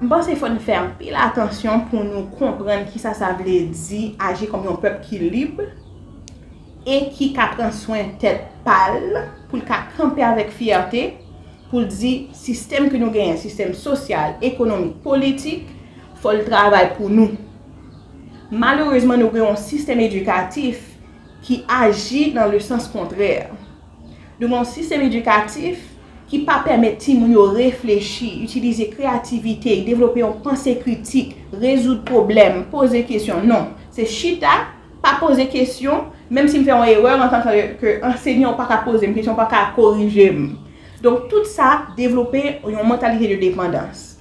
M panse fò n fè anpil atansyon pou nou konprann kisa sa vle di aji kòm yon pèp ki lib e ki ka pran swen tèt pa l, pou l ka kanpe avèk fyète pou l di sistèm ke nou genyen, sistèm sosyal, ekonomik, politik, fò l travay pou nou. Malerezman nou gen yon sistèm edikatif ki aji nan le sans kontrè. Nou gen yon sistèm edikatif ki pa pèmèt timoun yo reflechi, itilize kreyativite, devlope yon panse kritik, rezoud pwoblèm, poze kesyon. Non. Se chita, pa poze kesyon, menm si m fè yon erè an tan ke anseyan ou pa ka poze m kesyon, ou pa ka korije m. Donk tout sa devlope yon mantalite de depandans.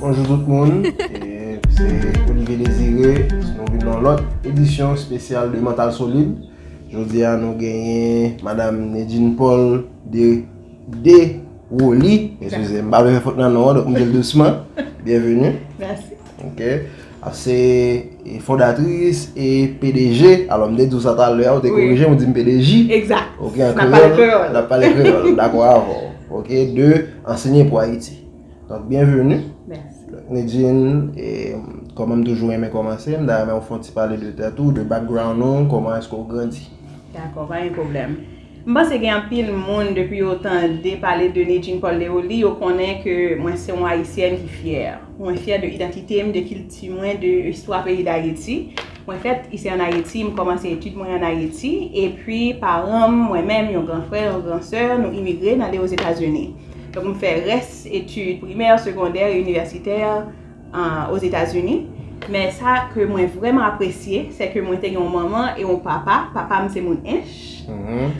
Bonjou tout moun, se Olivier Désiré, nou vin nan lòt edisyon spesyal de Mantal Solid. Jodi a nou genyen Madame Nedjine Paul de Deroli, eskize m, m pa vle fè fot nan non an, donk m di l dousman, byenveni. Mèsi. Ok A se fondatris e pdg Alò m te di w sa talè a ou te korije m ou di m pdg Egzat Ok an kreyòl N ap pale kreyòl Dakò avè w Ok De Ansenye pou Ayiti Donk byenveni Mèsi Negin e kòman m toujou renmen kòmanse m ta renmen ou fè yon ti pale de tèt ou de background ou kòman èske ou grandi Dakò pa gen pwoblèm. M panse gen anpil moun depi yo tande pale de Nidjine Paul Leoly yo konnen ke mwen se yon ayisyèn ki fyè. Mwen fyè de idantite m, de kilti mwen, de istwa peyi Dayiti. Mwen fèt isi an Ayiti, m kòmanse etid mwen an Ayiti, epi paran m, mwen menm, yon gran frè, yon gran sè, nou imigre n ale Ozetazini. Donk m fè rès etid primè, segondè, inivèsitè. Ozetazini, men sa ke mwen vrèman apresye, sè ke mwen te gen yon manman e yon papa, papa m se moun Ench,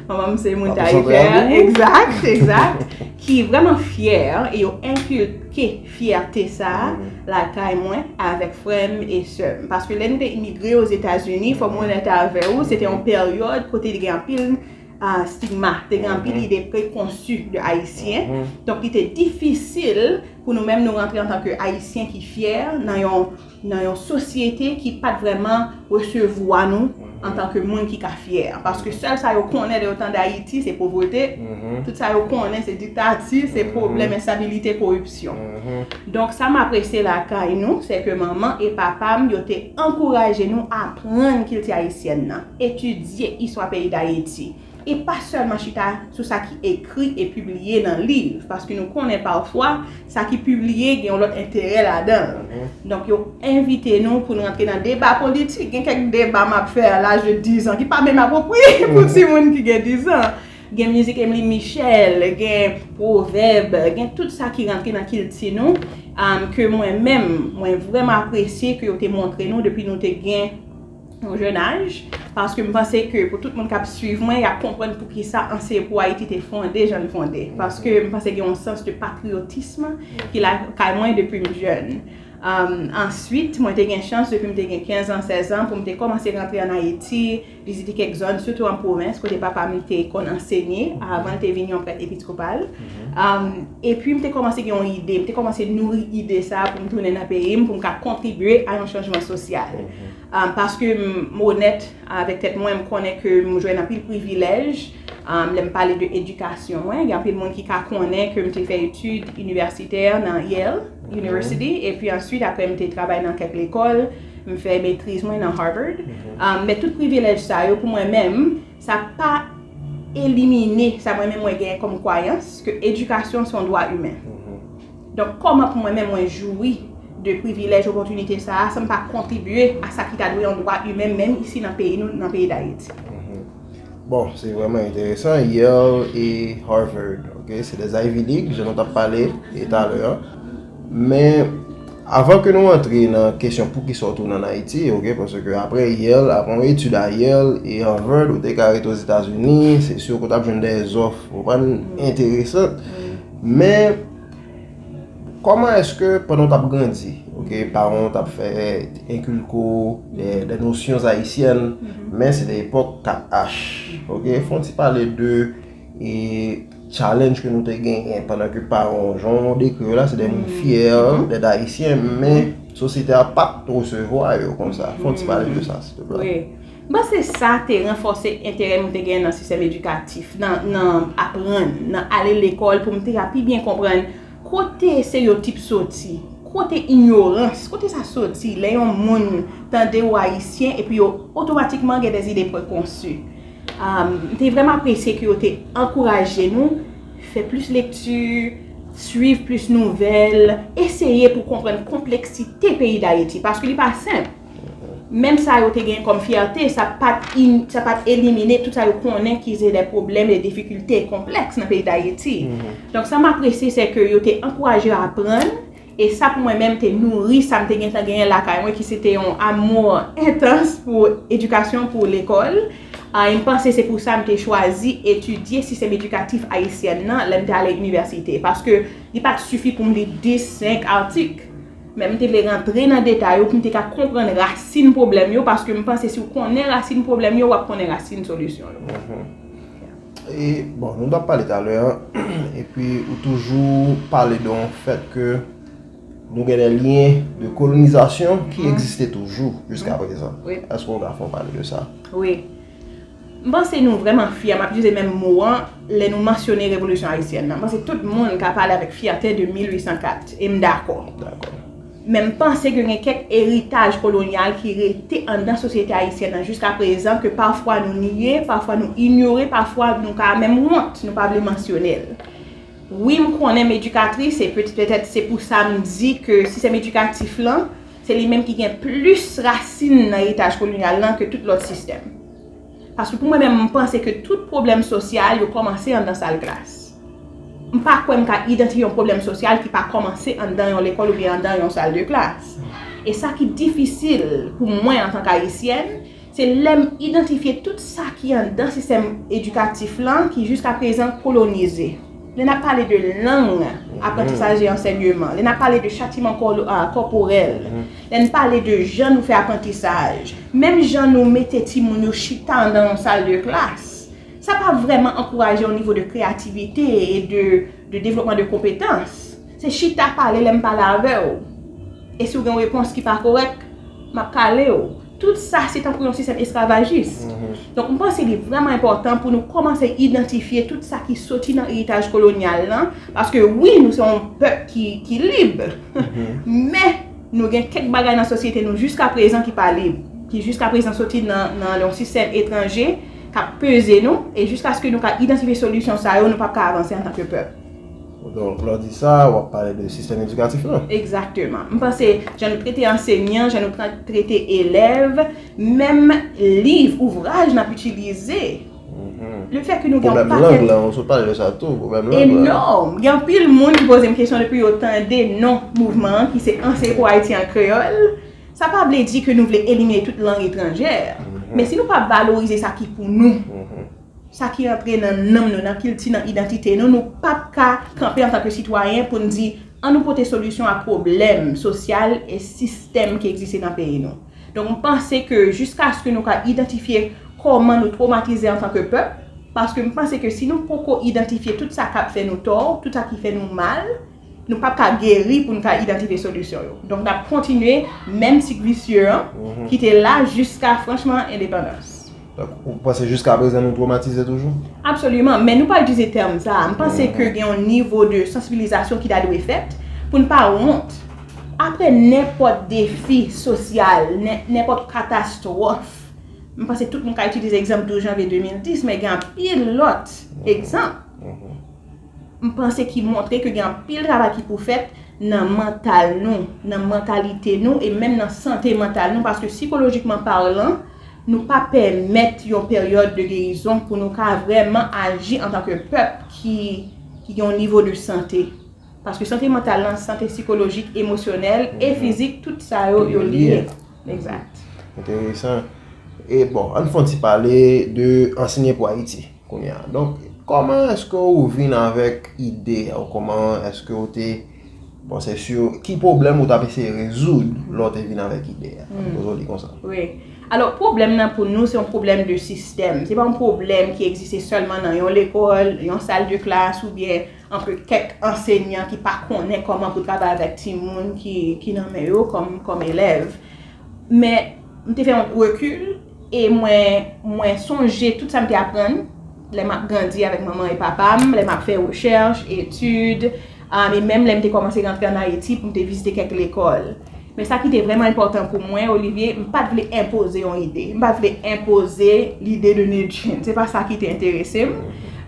manman m se moun Tayikè, egzat, egzat, ki vrèman fyè, e yo enkilke fyète sa a lakay mwen avèk frè m e sè m, paske lè nou te imigre Ozetazini, fò mwen onèt avè ou, se te yon peryòd kote te gen anpil stigma, te gen anpil ide prekonsi de Ayisyen, donk li te difisil Pou nou menm nou rantre antan ke Ayisyen ki fyè nan yon nan yon sosyete ki pat vrèman resevwa nou antan ke moun ki ka fyè. Paske sèl sa yo konnen lè yo tande Ayiti se povrete, tout sa yo konnen se diktati, se pwoblèm enstabilite, koripsyon. Donk sa m apresye lakay nou se ke manman e papa m yo te ankouraje nou aprann kilti ayisyèn nan, etidye istwa peyi Dayiti. e pa sèlman chita sou sa ki ekri e pibliye nan liv, paske nou konnen pafwa sa ki pibliye gen yon lòt enterè ladan l. Donk yo envite nou pou n rantre nan deba politik. Gen kèk deba m ap fè a laj de dizan ki pa menm apwopriye pou timoun ki gen dizan. Gen mizik Emeline Michel, gen pwovèb, gen tout sa ki rantre nan kilti nou, ke mwen menm, mwen vrèman apresye ke yo te montre nou depi nou te gen. yon jèn aj, paske m panse ke pou tout moun k ap swiv mwen, y ap konprann poukisa Anseye pou Ayiti te fonde jan l fonde. Paske m panse gen yon sans de patriyotism ki lakay mwen depi m jèn. Answit, mwen te gen chans depi m te gen 15 an, 16 an, pou m te kòmanse rantre ann Ayiti, vizite kèk zòn, sitou an pwovens, kote papa m te konn ansenye, avan l te vin yon prèt episkopal. Epi m te kòmanse gen yon ide, m te kòmanse nouri ide sa a pou m tounen nan peyi m, pou m ka kontribye a yon chanjman sosyal. Paske m onèt avèk tèt mwen, m konnen ke m jwenn anpil privilèj lè m pale de edikasyon mwen. Gen anpil moun ki ka konnen ke m te fè etid inivèsitè nan Yale University, epi answit apre m te travay nan kèk lekòl, m fè metriz mwen nan Harvard. Men tout privilèj sa yo pou mwen menm, sa pa elimine sa mwen menm mwen gen kòm kwayans ke edikasyon se yon dwa imen. Donk kòman pou mwen menm mwen joui de privilèj opòtinite sa a san m pa kontribye a sa ki ta dwe yon dwa imen menm isi nan peyi nou, nan peyi Dayiti? Bon, se vrèman enteresan. Yale e Harvard, ok, se 2 Ivy League, jan nou t ap pale e talè an. Men, avan ke nou antre nan kesyon poukisa w tounen ann Ayiti, ok, paske apre Yale, apre yon etid a Yale e Harvard, ou te ka rete Ozetazini, se si w pa t ap jwenn dè zòf, w konprann, enteresan. Men, kòman èske pandan w t ap grandi, ok, paran w t ap fè, enkilke w dè nosyons ayisyèn, men se te epòk 4 H, ok, fè yon ti pale de e challenge ke nou te genyen pandan ke paran w, jan w dekri yo la, se dè moun fyè dèt ayisyen, men sosyete a pa t resevwa yo konsa. Fè yon ti pale de sa, sil te plè. M panse sa te ranfòse enterè m te genyen nan sistèm edikatif, nan aprann, nan ale lekòl pou m te ka pi byen konprann kote stereyotip soti, kote inyorans, kote sa soti lè yon moun tande ou Ayisyen epi yo otomatikman gen dè zide prekonsi. M te vrèman apresye ke yo te ankouraje nou fè plis lekti, suiv plis nouvèl, eseye pou konprann konpleksite peyi Dayiti paske li pa senp. Menm sa yo te gen kòm fyète, sa pa t elimine tout sa yo konnen ki se de pwoblèm, de difikilte, konplèks nan peyi Dayiti. Donk sa m apresye se ke yo te ankouraje yo aprann, e sa pou mwen menm te nouri sa m te gentan genyen lakay mwen ki se te yon amou entans pou edikasyon, pou lekòl. E m panse se pou sa m te chwazi etidye sistèm edikatif ayisyèn nan lè m te ale inivèsite. Paske li pa t sifi pou m li 10, 5 atik. Men m te vle rantre nan detay yo pou m te ka konprann rasin pwoblèm yo paske m panse si w konnen rasin pwoblèm yo w ap konnen rasin solisyon yo. E bon, nou t ap pale talè an, epi ou toujou pale de yon fèt ke nou gen de lyen de kolonizasyon ki egziste toujou jiska prezan. Èske w ka fè yon pale de sa? Wi. M panse nou vrèman fyè, m ap itilize menm mo an, lè nou mansyone Revolisyon Ayisyèn nan. M panse tout moun ka pale avèk fyète de 1804, e m dakò. Men m panse ke gen kèk eritaj kolonyal ki rete anndan sosyete ayisyèn nan jiska prezan ke pafwa nou nye, pafwa nou inyore, pafwa nou ka menm wont, nou pa vle mansyone l. Wi m konnen m edikatris, e petèt se pou sa m di ke sistèm edikatif lan, se li menm ki gen plis rasin nan eritaj kolonyal lan ke tout lòt sistèm. Paske pou mwen menm m panse ke tout pwoblèm sosyal yo kòmanse anndan sal klas. M pa kwè m ka idantifye yon pwoblèm sosyal ki pa kòmanse anndan yon lekòl oubyen anndan yon sal de klas. E sa ki difisil pou mwen antank ayisyèn, Se lè m idantifye tout sa ki anndan sistèm edikatif lan ki jiska prezan kolonize. Lè n ap pale de lang, aprantisaj e ansènyeman, lè n ap pale de chatiman kòporèl, lè n pale de jan nou fè aprantisaj, menm jan nou mete timoun yo chita anndan yon sal de klas, sa pa vrèman ankouraje yon nivo de kreyativite e de devlopman de konpetans. Se chita pale lè m pale avè w. E si w gen yon repons ki pa korèk, m ap kale w. Tout sa se tankou yon sistèm esklavajis. Donk m panse li vrèman enpòtan pou nou kòmanse idantifye tout sa ki soti nan eritaj kolonyal lan, paske wi nou se yon pèp ki lib, men nou gen kèk bagay nan sosyete nou jiskaprezan ki pa lib, ki jiskaprezan soti nan yon sistèm etranje k ap peze nou, e jiskaske nou ka idantifye solisyon sa yo nou p ap ka avanse antanke pèp. Donk lè w di sa, w ap pale de sistèm edikatif la. Egzakteman. M panse jan nou trete ansenyan, jan nou trete elèv, menm liv, ouvraj n ap itilize. Le fè ke nou gen yon pakèt. Pwoblèm lang la, ou sot pale de sa tou, pwoblèm lang la. Enòm. Gen anpil moun ki poze m kesyon depi yo tande non mouvman an ki se Anseye pou Ayiti an kreyòl. Sa pa vle di ke nou vle elimine tout lang etranjè. Men si nou pa valorize sa ki pou nou. Sa ki antre nan nanm nou, nan kilti, nan idantite nou, nou p ap ka kanpe antan ke sitwayen pou n di, an nou pote solisyon a pwoblèm sosyal e sistèm ki egziste nan peyi nou. Donk m panse ke jiskaske nou ka idantifye kòman nou twomatize antan ke pèp, paske m panse ke si nou poko idantifye tout sa k ap fè nou tò, tout sa ki fè nou mal, Nou pap ka geri pou n ka idantifye solisyon yo. Donk n ap kontinye menm sik visye an ki te la jiska franchman endepandans. Ou panse jiska prezan nou twomatize toujou? Absoliman. Men nou pa itilize tèm sa a. M panse ke gen yon nivo de sansibilizasyon ki ta dwe fèt pou n pa wont. Apre nenpòt defi sosyal, nenpòt katastwòf, m panse tout moun ka itilize egzanp 12 janvye 2010, men gen anpil lòt egzanp. m panse ki montre ke gen anpil travay ki pou fèt nan mantal nou, nan mantalite nou e menm nan sante mantal nou paske sikolojikman parlan nou pa pèmèt yon peryòd de gerizon pou nou ka vrèman aji antan ke pèp ki gen yon nivo de sante paske sante mantal lan, sante sikolojik, emosyonèl e fizik tout sa yo, yo lye. Enteresan. E bon, an n fon ti pale de ansenye pou Ayiti. Kounye a. Donk, kòman èske ou vin avèk ide a? Ou kòman èske ou te panse sou ki pwoblèm ou t ap eseye rezoud lè ou te vin avèk ide a? An nou poze w li konsa. Wi. Alò, pwoblèm nan pou nou se yon pwoblèm de sistèm. Se pa yon pwoblèm ki egziste sèlman nan yon lekòl, yon sal de klas oubyen antre kèk ansenyan ki pa konnen kòman pou travay avèk timoun ki nan men yo kòm elèv. Men, m te fè yon rekil. E mwen, mwen sonje tout sa m te aprann lè m ap grandi avèk manman e papa m, lè m ap fè rechèch, etid, e menm lè m te kòmanse rantre ann Ayiti pou m te vizite kèk lekòl. Men sa ki te vrèman enpòtan pou mwen, Olivier, m pa t vle enpoze yon ide. M pa t vle enpoze lide de medjine. Se pa sa ki te enterese m.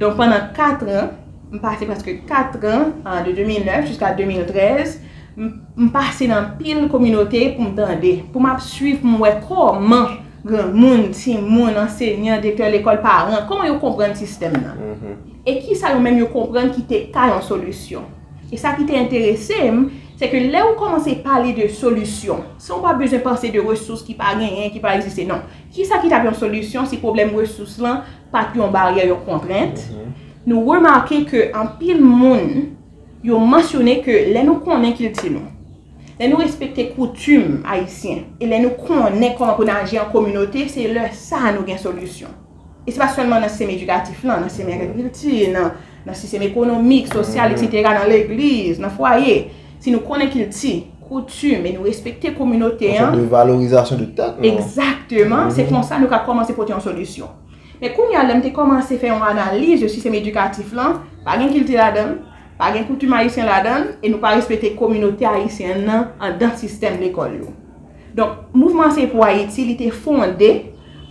Donk pandan katran. M pase prèske 4 tran, de 2009 jiska 2013, m pase nan anpil kominote pou m tande, pou m ap swiv, pou m wè kòman granmoun, timoun, ansenyan, direktè lekòl, paran, kòman yo konprann sistèm nan. E ki sa yo menm yo konprann ki te ka yon solisyon. E sa ki te enterese m, se ke lè ou kòmanse pale de solisyon, san ou pa bezwen panse de resous ki pa genyen, ki pa egziste, non. Ki sa ki t ap yon solisyon si pwoblèm resous lan pa t yon baryè, yon kontrent, nou remake ke anpil moun yo mansyone ke lè nou konnen kilti nou, lè nou respekte koutim ayisyen, e lè nou konnen kòman pou n aji an kominote, se lè sa nou gen solisyon. E se pa sèlman nan sistèm edikatif lan, nan sistèm agrikilti, nan sistèm ekonomik, sosyal, eksetera, nan legliz, nan fwaye. si nou konnen kilti, koutim, e nou respekte kominote an. Yon sòt de valorizasyon de tèt nou. Egzakteman, se konsa nou ka kòmanse pote yon solisyon. Men kounye a, lè m te kòmanse fè yon analiz de sistèm edikatif lan, pa gen kilti ladan l, pa gen koutim ayisyen ladan l, e nou pa respekte kominote ayisyen an nan andan sistèm lekòl yo. Donk, Mouvman an se pou Ayiti, li te fonde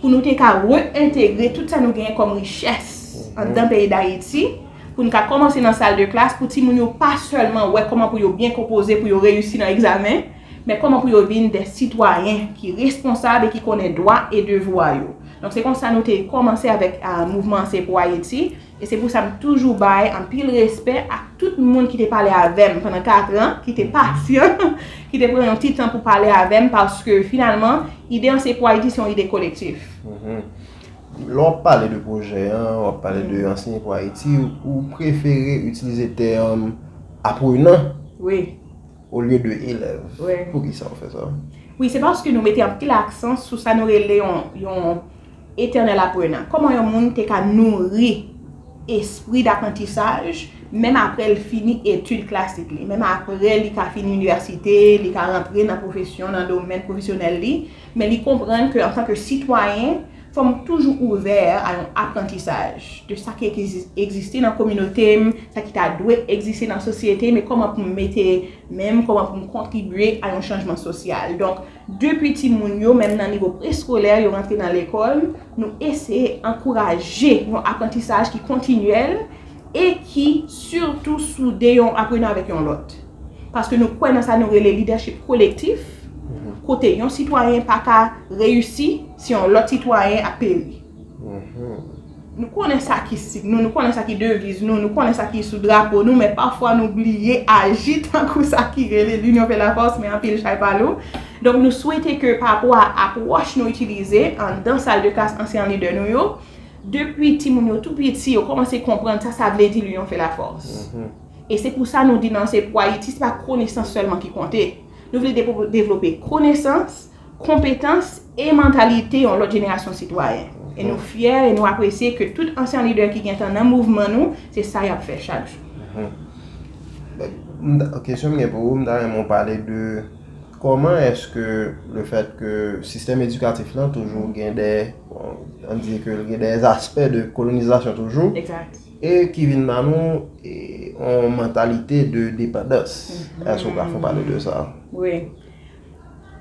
pou nou te ka re-entegre tout sa nou genyen kòm richès anndan peyi Dayiti, pou nou ka kòmanse nan sal de klas, pou timoun yo pa sèlman wè kòman pou yo byen konpoze pou yo reyisi nan egzamen, men kòman pou yo vin de sitwayen ki responsab e ki konnen dwa e devwa yo. Donk, se konsa nou te kòmanse avèk Mouvman an se pou Ayiti. E se pou sa m toujou bay anpil respè ak tout moun ki te pale avè m pandan 4 an, ki te pasyan, ki te pran yon ti tan pou pale avè m paske finalman ide Anseye Pou Ayiti se yon ide kolektif. Lè w ap pale de pwojè an, w ap pale de Anseye Pou Ayiti, ou prefere itilize tèm aprenan olye de elèv. Poukisa ou fè sa? Wi, se paske nou mete anpil aksan sou sa nou rele yon Etènèl Aprenan, Kòman yon moun te ka nouri espri daprantisaj menm apre l fini etid klasik li, menm apre li ka fini inivèsite, li ka rantre nan pwofesyon, nan domèn pwofesyonèl li, men li konprann ke antanke sitwayen, fò m toujou ouvè a yon aprantisaj de sa ki egziste nan kominote m, sa ki ta dwe egziste nan sosyete m e kòman pou m mete men m, kòman pou m kontribye a yon chanjman sosyal. Donk. Depi timoun yo, menm nan nivo preskolè, yo rantre nan lekòl, nou eseye ankouraje yon aprantisaj ki kontinyèl e ki sitou soude yon aprenan avèk yon lòt. Paske nou kwè nan sa nou rele lidèchip kolektif, kote yon sitwayen pa ka reyisi si yon lòt sitwayen ap peri. Nou konnen sa ki sik nou, nou konnen sa ki deviz nou, nou konnen sa ki sou drapo nou, men pafwa nou bliye aji tankou sa ki rele L'union fait la force men anpil chay pa lou. Donk nou swete ke pa rapò a apwòch nou itilize anndan sal de klas ansyan lidè nou yo, depi timoun yo tou piti yo kòmanse konprann sa sa vle di L'union fait la force. E se pou sa nou di nan Se Pou Ayiti se pa konesans sèlman ki konte. Nou vle devlope konesans, konpetans e mantalite yon lòt jenerasyon sitwayen. E nou fyè e nou apresye ke tout ansyan lidè ki gentan nan mouvman nou, se sa y ap fè chak jou. Kesyon m gen pou ou, m ta renmen ou pale de kòman èske le fèt ke sistèm edikatif lan toujou gen de, an di ke gen de aspè de kolonizasyon toujou, e ki vin ban nou yon mantalite de depandans. Èske ou ka fon pale de sa? Wi.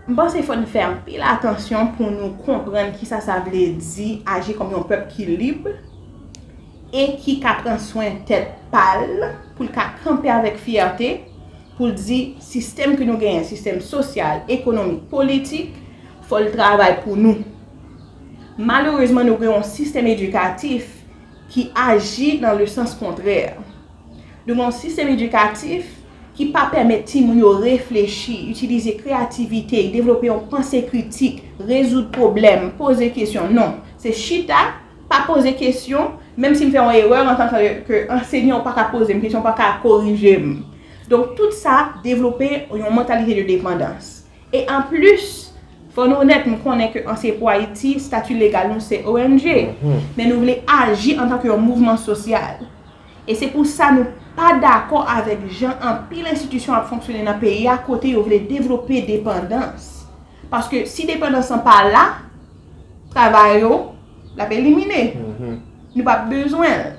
M panse fò n fè anpil atansyon pou nou konprann kisa sa vle di aji kòm yon pèp ki lib e ki ka pran swen tèt pa l, pou l ka kanpe avèk fyète pou l di sistèm ke nou genyen, sistèm sosyal, ekonomik, politik, fò l travay pou nou. Malerezman nou gen yon sistèm edikatif ki aji nan le sans kontrè. Nou gen yon sistèm edikatif ki pa pèmèt timoun yo reflechi, itilize kreyativite, devlope yon panse kritik, rezoud pwoblèm, poze kesyon. Non. Se chita, pa poze kesyon, menm si m fè yon erè an tanke ke ansenyan ou pa ka poze m kesyon, ou pa ka korije m. Donk tout sa devlope yon mantalite de depandans. E anplis, fò nou onèt, m konnen ke Anseye Pou Ayiti, stati legal nou se ong, men nou vle aji antanke yon mouvman sosyal. E se pou sa nou pa dakò avèk jan anpil enstitisyon ap fonksyone nan peyi a kote yo vle devlope depandans. Paske si depandans lan pa la, travay yo, l ap elimine. Nou p ap bezwen l.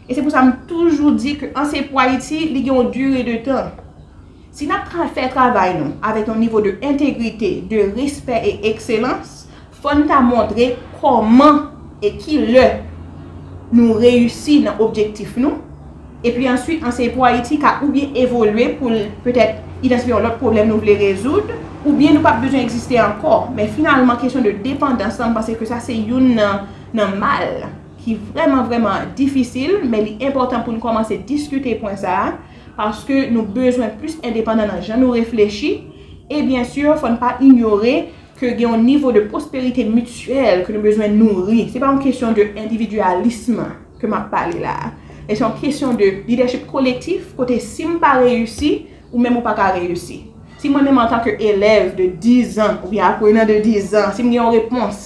E se pou sa m toujou di ke an se pou Ayiti, li gen yon dure de tan. Si n ap fè travay nou avèk yon nivo de entegrite, de respè e ekselans, fò n ta montre kòman e ki lè nou reyisi nan objektif nou, epi answit an se pou Ayiti ka oubyen evolye pou l petèt idantifye yon lòt pwoblèm nou vle rezoud, oubyen nou pa p bezwen egziste ankò. Men finalman kesyon de depandans lan, m panse ke sa se youn nan mal. ki vrèman vrèman difisil, men li enpòtan pou n kòmanse diskite pwen sa a, paske nou bezwen plis endepandan nan jan nou reflechi, e byen sur fò n pa inyore ke gen yon nivo de pwosperite mityèl ke nou bezwen nouri, se pa yon kesyon de endividyalism ke m ap pale la a, men se yon kesyon de lidèchip kolektif kote si m pa reyisi, ou menm ou pa ka reyisi. Si mwen menm antanke elèv de dizan oubyen aprenan de dizan, si m gen yon repons.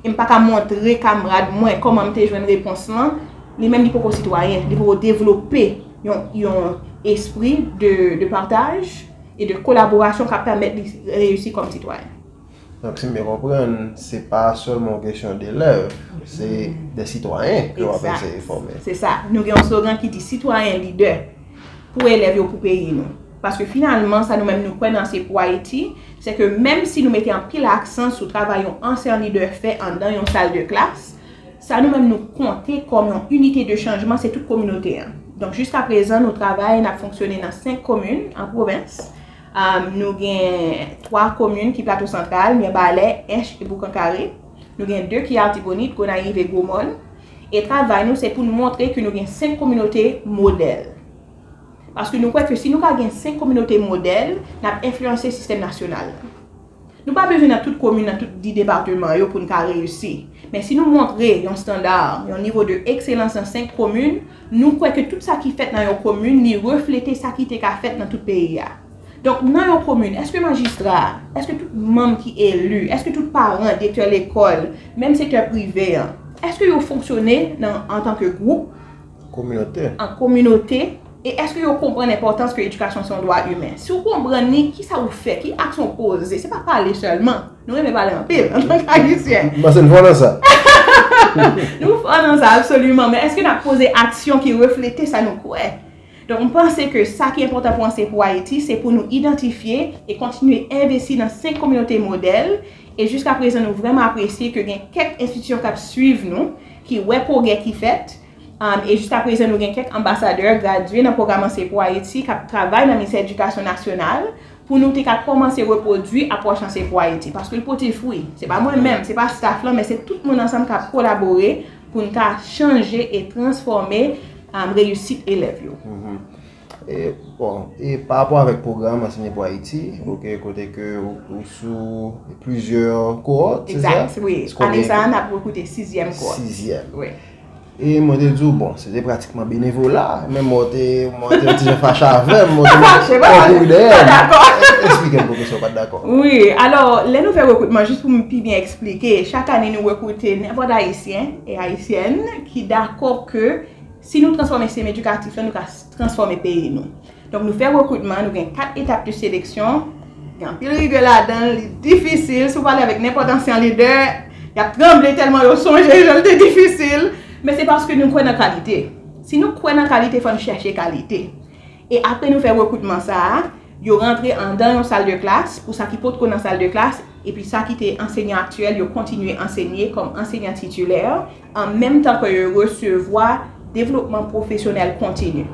E m pa ka montre kamrad mwen kòman m te jwenn repons lan, li menm li poko sitwayen, li poko devlope yon espri de pataj e de kolaborasyon k ap pèmèt li reyisi kòm sitwayen. Donk si m byen konprann, se pa sèlman yon kesyon delèv, se de sitwayen ke w ap eseye fòme. Egzat. Se sa. Nou gen yon slogan ki di sitwayen lidè, pou elèv yo, pou peyi nou. Paske finalman sa nou menm nou kwè nan Se Pou Ayiti, se ke menm si nou mete anpil aksan sou travay yon ansyan lidè fè anndan yon sal de klas, sa nou menm nou konte kòm yon inite de chanjman se tout kominote an. Donk jiska prezan nou travay, n ap fonksyone nan 5 komin an pwovens. Nou gen 3 komin ki Plato Santral, Mirebalè, Ench e Boukankare. Nou gen 2 ki Artibonit, Gonayiv e Gwomòn. E travay nou se pou n montre ke nou gen 5 kominote modèl. Paske nou kwè ke si nou ka gen 5 kominote modèl, n ap enfliyanse sistèm nasyonal la. Nou pa bezwen nan tout komin, nan tout di depateman yo pou n ka reyisi. Men si nou montre yon standa, yon nivo de ekselans nan 5 komin, nou kwè ke tout sa ki fèt nan yon komin, li reflete sa ki te ka fèt nan tout peyi a. Donk nan yon komin, èske majistra, èske tout manm ki eli, èske tout paran, direktè lekòl, menm sektè prive an, èske yo fonksyone nan antanke gwoup, kominotè. An kominote, e èske yo konprann enpòtans ke edikasyon se yon dwa imen? Si ou konprann li, kisa ou fè? Ki aksyon ou poze? Se pa pale sèlman. Nou renmen pale anpil, antank Ayisyen. M panse n fò nan sa. Nou fò nan sa, absoliman. Men èske n ap poze aksyon ki reflete sa nou kwè? Donk, m panse ke sa ki enpòtan pou Anseye pou Ayiti, se pou nou idantifye e kontinye envesti nan senk kominote modèl, E jiska prezan nou vrèman apresye ke gen kèk enstitisyon k ap swiv nou, ki wè pwogrè ki fèt, e jiska prezan nou gen kèk anbasadè gradye nan pwogram Anseye Pou Ayiti k ap travay nan Ministè Edikasyon Nasyonal pou nou te ka kòmanse repwodui apwòch Anseye Pou Ayiti. Paske l pote fwi. Se pa mwen menm, se pa staf lan, men se tout moun ansanm k ap kolabore pou n ka chanje e transfòme reyisit elèv yo. Bon, e pa rapò avèk pwogram Anseye pou Ayiti, ok, kote ke ou sou plizyè kowòt, se sa? Egzat, wi. Ane sa a, n ap rekrite sizyèm kowòt. Sizyèm. Wi. E mwen te di w, bon, se te pratikman benevola, men mwen te, mwen te yon ti jan fache avè m, mwen te mande, Fache, mwen te mande, pa dakò. Esplike m pwoufesè w pa t dakò. Wi. Alò, lè nou fè rekrutman, jis pou m pi byen esplike, chak ane nou rekrite nenpòt Ayisyen e Ayisyèn ki dakò ke. Si nou transfòme sistèm edikatif la, nou ka transfòme peyi nou. Donk nou fè rekritman, nou gen 4 etap de seleksyon, gen anpil rigè ladan l, li difisil, si w pale avèk nenpòt ansyan lidè, y ap tranble tèlman yo sonje jan l te difisil, men se paske nou kwè nan kalite. Si nou kwè nan kalite, fò nou chèche kalite. E apre nou fè rekritman sa a, yo rantre anndan yon sal de klas, pou sa ki potko nan sal de klas, epi sa ki te anseyan aktyèl, yo kontinye ansenye kòm anseyan titilè, an menm tan ke yo resevwa devlopman pwofesyonèl kontini.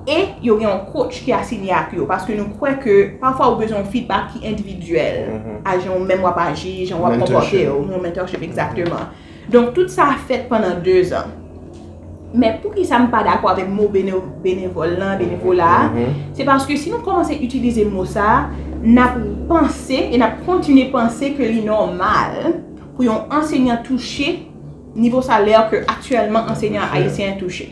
E yo gen yon coach ki asinye ak yo, paske nou kwè ke pafwa ou bezwen yon feedback ki endividyèl, a jan ou menm wap aji, jan wap konpòte ou, yon mentorship exactement. Donk tout sa fèt pandan 2 zan. Men poukisa m pa dakò avèk mo benevòl lan, benevola a, se paske si nou kòmanse itilize mo sa, nap panse e nap kontinye panse ke li nòmal pou yon ansenyan touche nivo salè ke aktyèlman ansenyan ayisyen touche.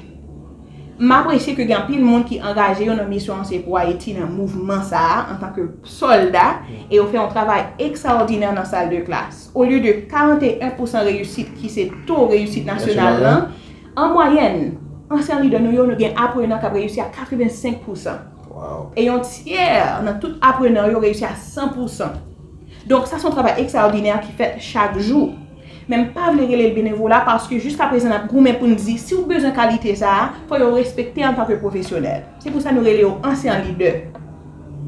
M apresye ke gen anpil moun ki angaje yo nan misyon Anseye Pou Ayiti nan mouvman sa a antan ke sòlda e yo fè yon travay ekstraòdinè nan sal de klas. Olye de 41 pousan reyisit ki se to reyisit nasyonal lan, an mwayèn, ansyen lidè nou yo, nou gen aprenan k ap reyisi a 85 pousan. E yon tyè nan tout aprenan yo reyisi a 100 pousan. Donk sa se yon travay ekstraòdinè ki fèt chak jou. Men m pa vle rele l benevola paske jiska prezan n ap goumen pou n di si w bezwen kalite sa a, fò yo respekte antanke pwofesyonèl. Se pou sa nou rele yo anseyan-lidè.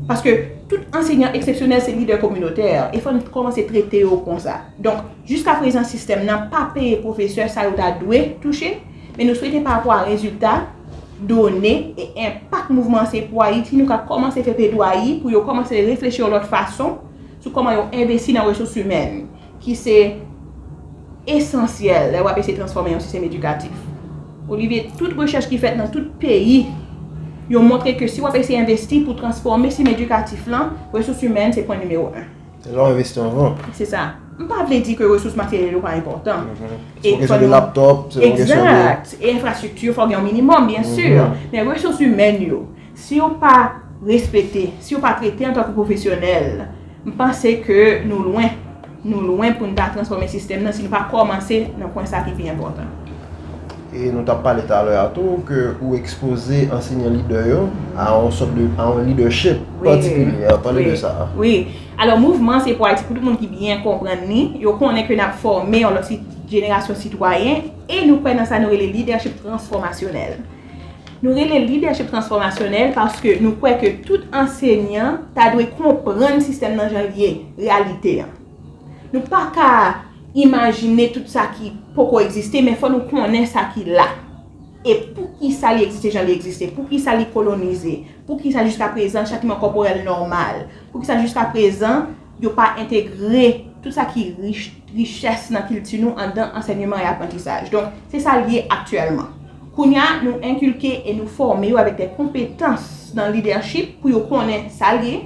Paske tout anseyan eksepsyonèl se lidè kominotè e fò n kòmanse trete yo konsa. Donk jiska prezan sistèm nan pa peye pwofesè sa yo ta dwe touche. Men nou swete pa apwa rezilta, done, e enpak mouvman Se Pou Ayiti nou ka kòmanse fè pledwayi pou yo kòmanse reflechi yon lòt fason sou kòman yo envesti nan resous imèn ki se esansyèl lè wap eseye transfòme yon sistèm edikatif. Olivier, tout rechèch ki fèt nan tout peyi yo montre ke si wap eseye envesti pou transfòme sistèm edikatif lan, resous imèn se pwen nimewo 1. E lè w envesti anvan. Se sa. M pa vle di ke resous materyèl yo pa enpòtan. Se yon kesyon de laptop, se yon kesyon de. Egzat. E enfrastrikti fò gen yon minimòm, byen si. Men resous imèn yo, si yo pa respekte, si yo pa trete antanke pwofesyonèl, m panse ke nou lwen. Nou lwen pou n ta transfòme sistèm nan si nou pa kòmanse nan pwen sa ki pi enpòtan. E nou t ap pale talè a tou ke ou ekspoze ansenyan lidè yo a yon sòt de, a yon lidèchip patikilye. An pale de sa. Wi. Alò mouvman Se Pou Ayiti pou tout moun ki byen konprann li, yo konnen ke n ap fòme yon lòt si, jenerasyon sitwayen e nou kwè nan sa nou rele lidèchip transfòmasyonèl. Nou rele l lidèchip transfòmasyonèl paske nou kwè ke tout ansenyan ta dwe konprann sistèm nan jan l ye, reyalite an. Nou pa ka imajine tout sa ki poko egziste, men fò nou konnen sa ki la. E pou ki sa li egziste jan li egziste? Pou ki sa li kolonize? Pou ki sa jiska prezan chatiman kòporèl nòmal? Pou ki sa jiska prezan yo pa entegre tout sa ki richès nan kilti nou andan ansènyeman e aprantisaj? Donk, se sa l ye aktyèlman. Kounye a, nou enkilke e nou fòme yo avèk de konpetans nan lidèchip pou yo konnen sa l ye,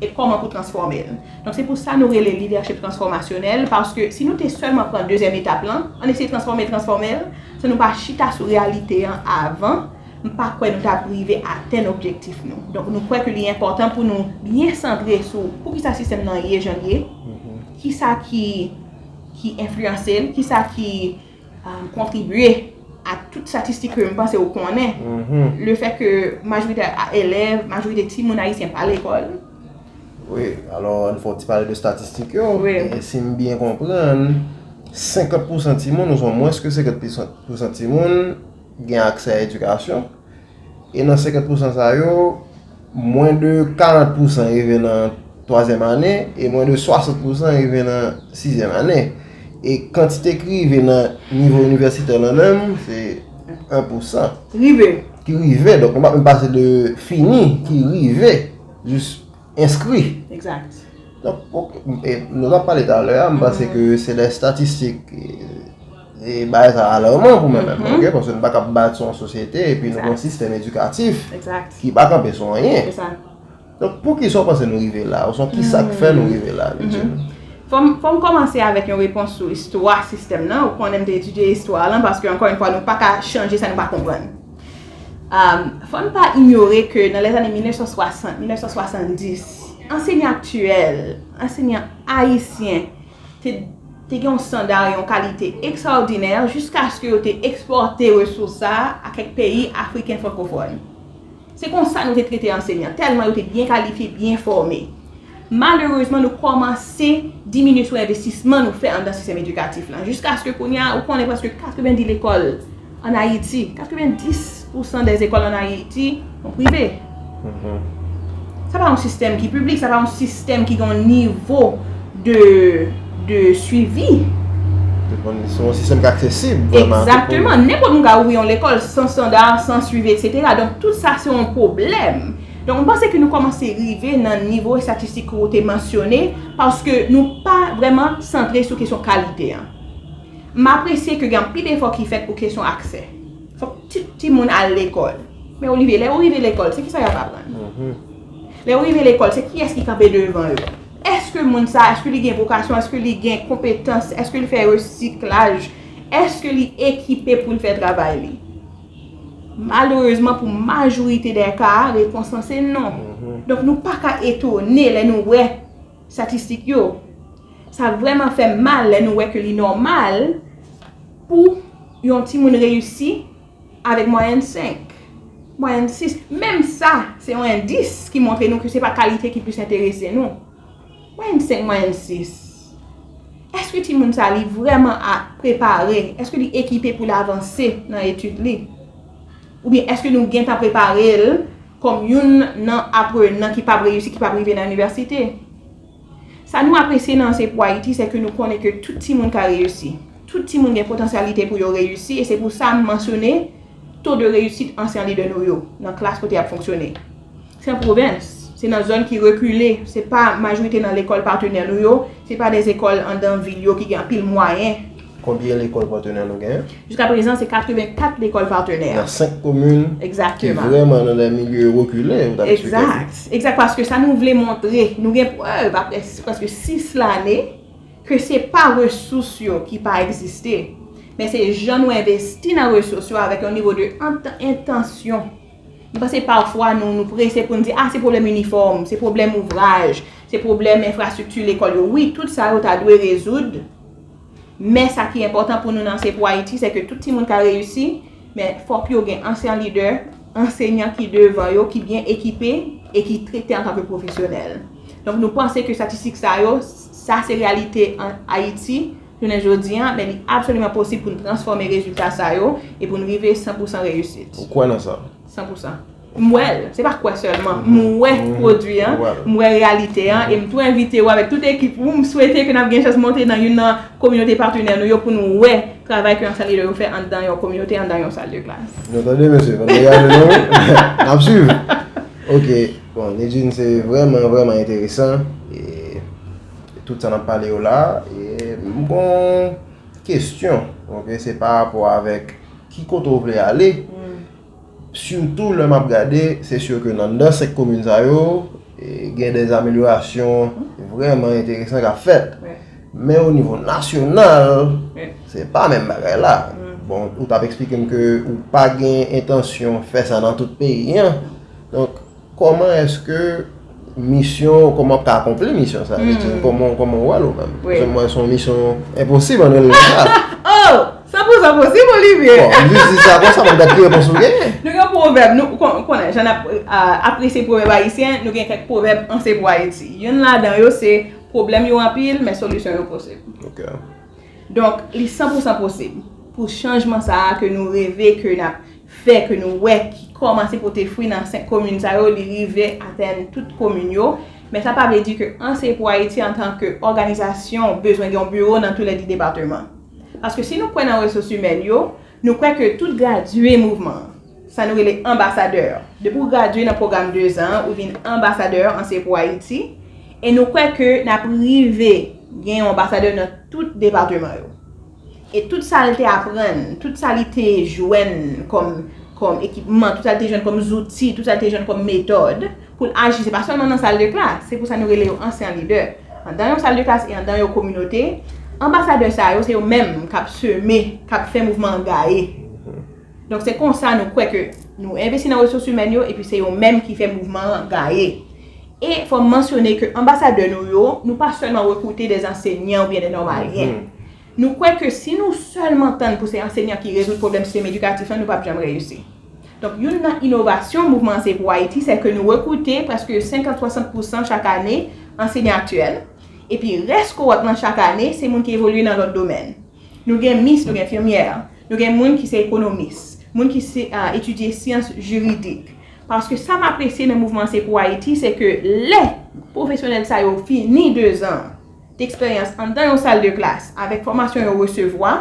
e kòman pou transfòme l. Donk se pou sa nou rele lidèchip transfòmasyonèl, paske si nou te sèlman pran dezyèm etap lan, an eseye transfòme l, transfòme l, san nou pa chita sou reyalite an avan, m pa kwè nou t ap rive atenn objektif nou. Donk nou kwè ke li enpòtan pou nou byen santre sou poukisa sistèm nan ye jan l ye, kisa ki enfliyanse l, kisa ki. kontribye a tout statistik ke m panse ou konnen, le fè ke majorite elèv, majorite ti moun ayisyen pa lekòl. Wi, alò an fè yon ti pale de statistik yo. Wi. Si m byen konprann, 50 pousan ti moun, oswa mwens ke 50 pousan ti moun, gen aksè a edikasyon. E nan 50 pousan sa yo, mwen de 40 pousan rive nan twazyèm ane, e mwen de 60 pousan rive nan sizyèm ane. E kantite ki rive nan nivo inivèsitè lan menm, se 1 pousan. Ki rive. Ki rive, donk nou pa menm pase de fini, ki rive, jis enskri. Ekzat. Donk, nou tap pale talè a, m panse ke se de statistik. E bagay sa alarman pou mwen menm, ok, paske nou pa kab bati yon sosyete epi nou gen yon sistèm edikatif ki pa kanpe sou anyen. Donk poukisa ou panse nou rive la? Oswa kisa k fè nou rive la, Lidjine? Fò m kòmanse avèk yon repons sou istwa sistèm nan. Ou konnen m te etidye istwa lan paske ankò yon fwa nou pa ka chanje sa nou pa konprann. Fò n pa inyore ke nan lèzane 1960, 1970, ansenyan aktyèl, ansenyan ayisyen, te gen yon standard, yon kalite ekstraòdinè jiskaske yo te ekspòte resous sa a a kèk peyi afriken frankofòn. Se konsa nou te trete ansenyan, tèlman yo te byen kalifye, byen fòme. Malerezman nou kòmanse diminye sou envestisman nou fè anndan sistèm edikatif lan, jiskaske kounye a ou konnen prèske 90 lekòl An Ayiti, 90 pousan dè ekòl an Ayiti son prive. Sa pa yon sistèm ki piblik, sa pa yon sistèm ki gen yon nivo de suivi. Se yon sistèm ki aksesib. Ekzakteman. Nenpòt moun ka ouvri yon lekòl san standa, san suivi, eksetera. Donk tout sa se yon pwoblèm. Donk m panse ke nou kòmanse rive nan nivo estatistik ke ou te mansyone paske nou pa vrèman santre sou kesyon kalite an. M apresye ke gen anpil efò ki fèt pou kesyon aksè. Fòk tout timoun al lekòl. Men Olivier, lè yo rive lekòl, se kisa y ap aprann? Lè yo rive lekòl, se kiyès ki kanpe devan yo? Èske moun sa a, èske li gen vokasyon? Èske li gen konpetans? Èske li fè resiklaj? Èske li ekipe pou l fè travay li? Malerezman, pou majorite dè ka, repons lan se non. Donk nou pa ka etone lè nou wè. Statistik yo. Sa vrèman fè m mal lè nou wè ke li nòmal pou yon timoun reyisi avèk mwayèn 5, mwayèn 6. Menm sa, se yon endis ki montre nou ke se pa kalite ki plis enterese nou. Mwayèn 5, mwayèn 6. Èske timoun sa li vrèman a prepare? Èske li ekipe pou l avanse nan etid li? Oubyen èske nou gentan prepare l kòm youn nan aprenan ki pap reyisi, ki pap rive nan inivèsite? Sa nou apresye nan Anseye pou Ayiti se ke nou konnen ke tout timoun ka reyisi. Tout timoun gen potansyalite pou yo reyisi e se pou sa m mansyone to de reyisit ansyan lidè nou yo nan klas kote y ap fonksyone. Fè pwovens, se nan zòn ki rekile, se pa majorite nan lekòl patenè nou yo, se pa de zekòl andan vil yo ki gen anpil mwayen. Konbyen lekòl patenè nou gen? Jiska prezan se 84 lekòl patenè. Nan 5 komin ki vrèman nan de milye rekile, ou ta esplike nou? Egzat, egzat paske sa nou vle montre, nou gen prèv apre prèske 6 lane ke se pa resous yo ki pa egziste, men se jan nou envesti nan resous yo avèk yon nivo de entansyon. M panse pafwa nou nou prese pou n di a se pwoblèm inifòm, se pwoblèm ouvraj, se pwoblèm enfrastrikti lekòl yo. Wi, tout sa yo ta dwe rezoud, men sa ki enpòtan pou nou nan Se Pou Ayiti se ke tout timoun ka reyisi, men fòk yo gen ansyan lidè, ansenyan ki devan yo, ki byen ekipe e ki trete antan ke pwofesyonèl. Donk nou panse ke statistik sa yo, sa se reyalite an Ayiti. Jounen jodi a, men li absoliman posib pou n transfòme rezilta sa yo e pou n rive san pou san reyisit. Ou kwè nan sa? San pou san. M wè l. Se pa kwè sèlman. M wè pwodui an. M wè reyalite an. E m tou envite ou avèk tout ekip ou, m swete ke n ap gen chans monte nan youn nan kominote patenè nou yo pou nou wè travay ke Ansan Lidè yo fè anndan yon kominote, anndan yon sal de klas. Nou tande mesye? Fò n degage nou wi. N ap swiv. Ok. Bon, Nidjine, se vrèman, vrèman enteresan. Tout sa nap pale yo la, m gon kesyon, ok, se pa rapò avèk ki kote ou vle ale, sitou lè map gade, se sur ke nan nan 5 komin sa yo, gen des amelyorasyon vreman enteresan kap fèt, men o nivo nasyonal, se pa menm bagay la, bon, ou tap eksplike m ke ou pa gen entansyon fè sa nan tout peyi an, donk. Koman eske misyon, koman wap ka akonpli misyon sa? Koman ou wèl ou menm? Paske mwen son misyon enposib anrele li sa. Oh! San pou san posib Olivier! Bon, m jis di sa konsa mwen gad ki repons ou genyen. Nou gen pwovèb, nou konnen jan nap apresye pwovèb ayisyen, nou gen kèk pwovèb anse pou Ayiti. Youn ladan yo se, pwoblèm yo anpil, men solisyon yo posib. Ok. Donk, li san pou san posib pou chanjman sa a ke nou reve, ke nap fè ke nou wè ki kòmanse pote fwi nan 5 komin sa yo, li rive atenn tout komin yo, men sa pa vle di ke Anseye Pou Ayiti antan ke òganizasyon bezwen gen yon biwo nan tou lè 2 depateman. Paske si nou kwè nan resous imèn yo, nou kwè ke tout gradye mouvman an, sa nou rele anbasadè, depi w gradye nan pwogram 2 zan an ou vin anbasadè Anseye Pou Ayiti, e nou kwè ke n ap rive gen yon anbasadè nan tout depateman yo. E tout sa l te aprann, tout sa li te jwenn kòm ekipman, tout sa li te jwenn kòm zouti, tout sa li te jwenn kòm metòd pou l aji, se pa sèlman nan sal de klas, se pou sa nou rele yo ansyan lidè, andan yon sal de klas e andan yon kominote, anbasadè sa yo se yo menm k ap seme, k ap fè mouvman an gaye. Donk se konsa nou kwè ke nou envesti nan resous imèn yo epi se yo menm ki fè mouvman an gaye. E fòm mansyone ke anbasadè nou yo, nou pa sèlman rekrute de ansenyan oubyen de nòmalyen. Nou kwè ke si nou sèlman tann pou se ansenyan ki rezoud pwoblèm sistèm edikatif lan, nou pap janm reyisi. Donk youn nan inovasyon Mouvman Anseye Pou Ayiti se ke nou rekrute prèske 50, 60 pousan chak ane ansenyan aktyèl, epi rès kowòt lan chak ane se moun ki evolye nan lòt domèn. Nou gen mis, nou gen enfimyè, nou gen moun ki se ekonomis, moun ki etidye syans jiridik. Paske sa m apresye nan mouvman Se Pou Ayiti se ke lè pwofesyonèl sa yo fini dezan deksperyans anndan yon sal de klas avèk fòmasyon yo resevwa,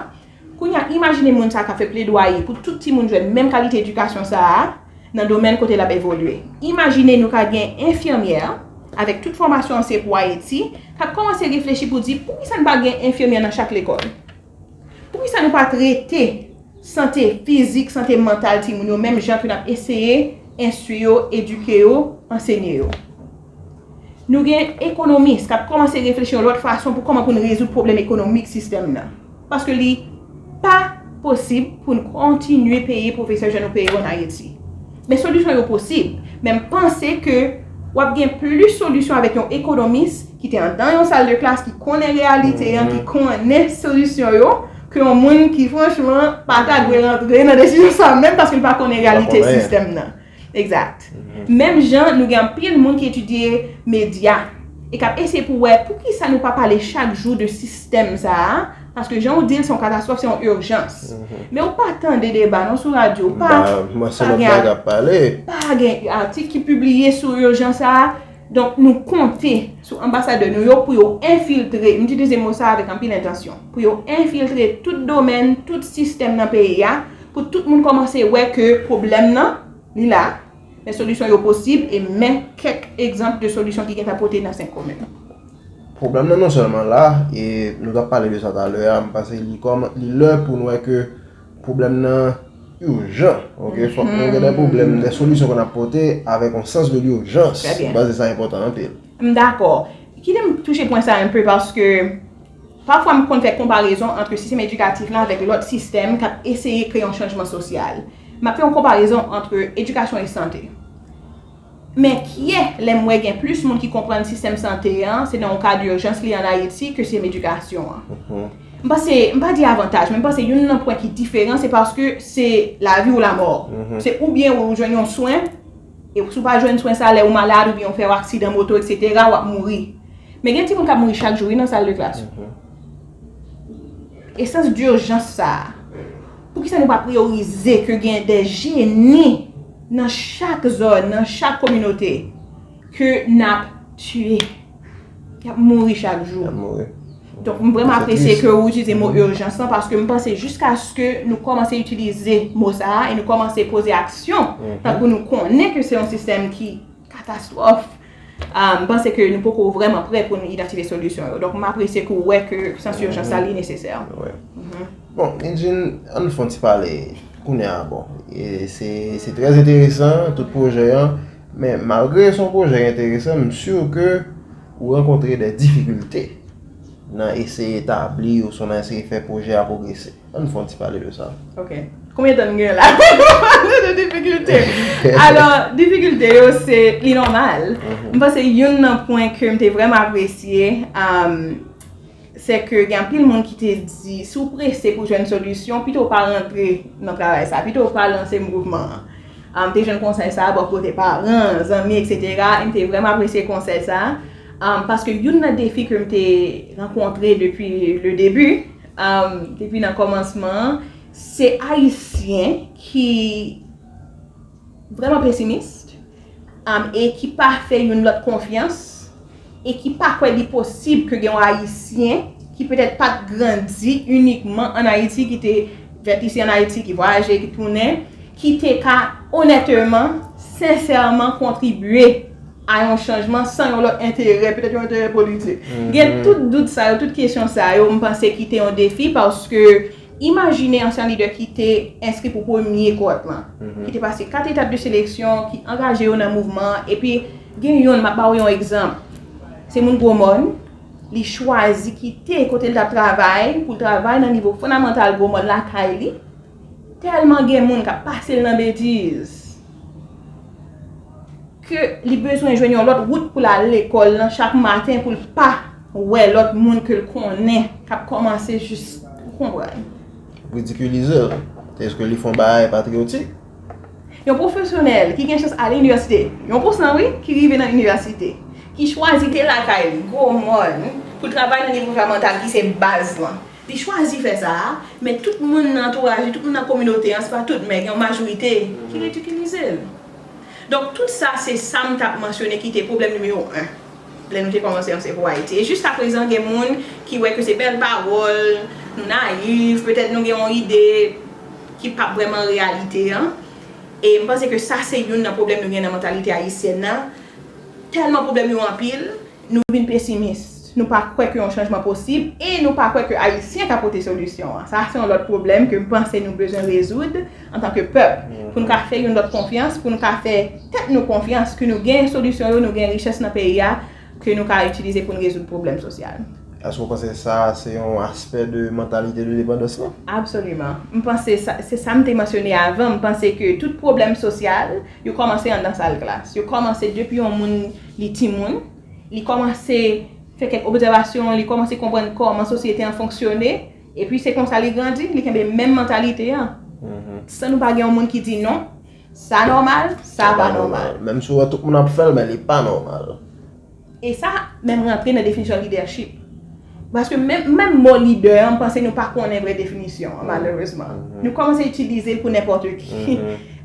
kounye a imajine moun sa k ap fè pledwaye pou tout timoun jwenn menm kalite edikasyon sa a, nan domèn kote l ap evolye. Imajine nou ka gen enfimyè, avèk tout fòmasyon an se pou Ayiti, k ap kòmanse reflechi pou di poukisa n pa gen enfimyè nan chak lekòl? Poukisa nou pa trete sante fizik, sante mantal timoun yo menm jan ke n ap eseye enstwi yo, edike yo, ansenye yo? Nou gen ekonomis k ap kòmanse reflechi yon lòt fason pou kòman pou n rezoud pwoblèm ekonomik sistèm nan. Paske li pa posib pou n kontinye peye pwofesè jan nou peye yo an Ayiti. Men solisyon yo posib, men m panse ke w ap gen plis solisyon avèk yon ekonomis ki te andan yon sal de klas, ki konnen reyalite an, ki konnen solisyon yo, ke yon moun ki franchman pa ta dwe rantre nan desizyon sa menm paske l pa konnen reyalite sistèm nan. Exact. Menm jan nou gen anpil moun ki etidye medya e kap eseye pou wè poukisa nou pa pale chak jou de sistèm sa a, paske jan ou di l se yon katastwòf, se yon urjans. Men ou pa tande deba non sou radyo, ou pa pa gen atik ki pibliye sou urjans sa a. Donk nou konte sou anbasadè nou yo pou yo enfiltre, m itilize mo sa a avèk anpil entansyon, pou yo enfiltre tout domèn, tout sistèm nan peyi a. Pou tout moun kòmanse wè ke pwoblèm nan, li la, men solisyon yo posib e men kèk egzanp de solisyon ki gentan pote nan senk komin yo. Pwoblèm nan non sèlman la, e nou t ap pale de sa talè a, m panse li kòman, li lè pou n wè ke pwoblèm nan urjan, ok, fòk nou gen dè pwoblèm, dè solisyon pou n ap pote avèk yon sans de l'urgence, m panse sa enpòtan anpil. M dakò. Kite m touche pwen sa enpe paske Pafwa m konn fè konparezon antre sistèm edikatif lan avèk lòt sistèm k ap eseye kreye yon chanjman sosyal. M ap fè yon konparezon antre edikasyon e sante. M enkyè lè m wè gen plis moun ki konprann sistèm sante an se nan yon ka durjans li an Ayiti ke sistèm edikasyon an. M panse, m pa di avantaj, men m panse youn nan pwen ki diferan se paske se lavi ou lamò. Se oubyen ou jwenn yon swen, E si w pa jwenn swen sa lè ou malad oubyen ou fè yon aksidan moto eksetera w ap mouri. Men gen timoun k ap mouri chak jou wi nan sal de klas yo. E sans dirjans sa a, poukisa nou pa priyorize ke gen de jeni nan chak zòn, nan chak kominote ke n ap tiye? Y ap mouri chak jou. Y ap mouri. Donk m vreman apresye ke ou itilize mo urjans lan paske m panse jiskaske nou kòmanse itilize mo sa a e nou kòmanse poze aksyon tankou nou konnen ke se yon sistèm ki katastwòf, m panse ke nou poko vreman prè pou nou idantifye solisyon yo. Donk m apresye ke ou wè ke sans urjans la li nesesè. Wi. Bon, Nidjine, an nou fè yon ti pale kounye a. Bon, se trè enteresan tout pwojè an. Men malgre son pwojè enteresan m sur ke ou rankontre dè difikilte nan eseye tabli ou sou nan eseye fè pwojè a pwogrese. Ann fon ti pale de sa. Ok. Konbyen tan n gen la pou nou pale de difikilte? Alò, difikilte yo se li nòmal. M panse youn nan pwen ke m te vrèman apresye, Se ke gen anpil moun ki te di, si w prese pou jwenn solisyon, pito w pa rantre nan travay sa, pito w pa lanse mouvman an. M te jwenn konsèy sa bò kote paran, zanmi, eksetera, e m te vrèman apresye konsèy sa. Paske youn nan defi ke m te rankontre depi le debi, depi nan kòmansman an, se Ayisyen ki. vrèman pesimist, e ki pa fè youn lòt konfyans, e ki pa kwè li posib ke gen yon Ayisyen ki petèt pa t grandi inikman ann Ayiti, ki te fèt isi ann Ayiti, ki vwayaje, ki tounen, ki te ka onèteman, sensèman kontribye a yon chanjman san yon lòt enterè, petèt yon enterè politik. Gen tout dout sa yo, tout kesyon sa yo, m panse ki te yon defi, paske. Imajine ansyen lidè ki te enskri pou premye kowòt lan, ki te pase kat etap de seleksyon, ki angaje yo nan mouvman an, epi gen youn, m ap ba ou yon egzanp, se moun Gwo Mòn, li chwazi kite kote l t ap travay pou l travay nan nivo fondamantal Gwo Mòn lakay li, tèlman gen moun k ap pase l nan betiz. ke li bezwen jwenn yon lòt wout pou l al lekòl lan chak maten pou l pa wè lòt moun ke l konnen k ap kòmanse jis, ou konprann. Ridikilize l? Eske li fè yon bagay patriyotik? Yon pwofesyonèl ki gen chans al inivèsite, yon pou san wi, ki rive nan inivèsite, ki chwazi kite lakay li, Gwo Mòn, pou l travay nan nivo fondamantal ki se baz lan. Li chwazi fè sa a, men tout moun nan antouraj li, tout moun nan kominote an, se pa tout men gen yon majorite ki ridikilize l. Donk tout sa se sam tap mansyone ki te pwoblèm nimewo 1 lè nou te kòmanse anse pou Ayiti. E jiska prezan gen moun ki wè ke se bèl pawòl, nou nayiv, petèt nou gen yon ide ki pap vrèman reyalite an. E m panse ke sa se youn nan pwoblèm nou gen nan mantalite ayisyèn nan, tèlman pwoblèm yo anpil, Nou vin pesimis. Nou pa kwè ke yon chanjman posib e nou pa kwè ke Ayisyen ka pote solisyon an. Sa a se yon lòt pwoblèm ke m panse nou bezwen rezoud antanke pèp pou nou ka fè youn lòt konfyans, pou nou ka fè tèt nou konfyans ke nou gen solisyon yo, nou gen richès nan peyi a ke nou ka itilize pou nou rezoud pwoblèm sosyal. Èske ou panse sa a se yon aspè de mantalite de depandans lan? Absoliman. M panse sa, se sa m te mansyone avan, m panse ke tout pwoblèm sosyal yo kòmanse anndan sal klas. Yo kòmanse depi yon moun. Li timoun, li kòmanse fè kèk obzèvasyon, li kòmanse konprann kòman sosyete an fonksyone, epi se konsa li grandi, li kenbe menm mantalite an. San nou pa gen yon moun ki di non, sa nòmal, sa pa nòmal. Menm si ou wè tout moun ap fè l, men li pa nòmal. E sa menm rantre nan definisyon lidèchip. Paske menm mo lidè an, m panse nou pa konnen vre definisyon an, malerezman. Nou kòmanse itilize l pou nenpòte ki.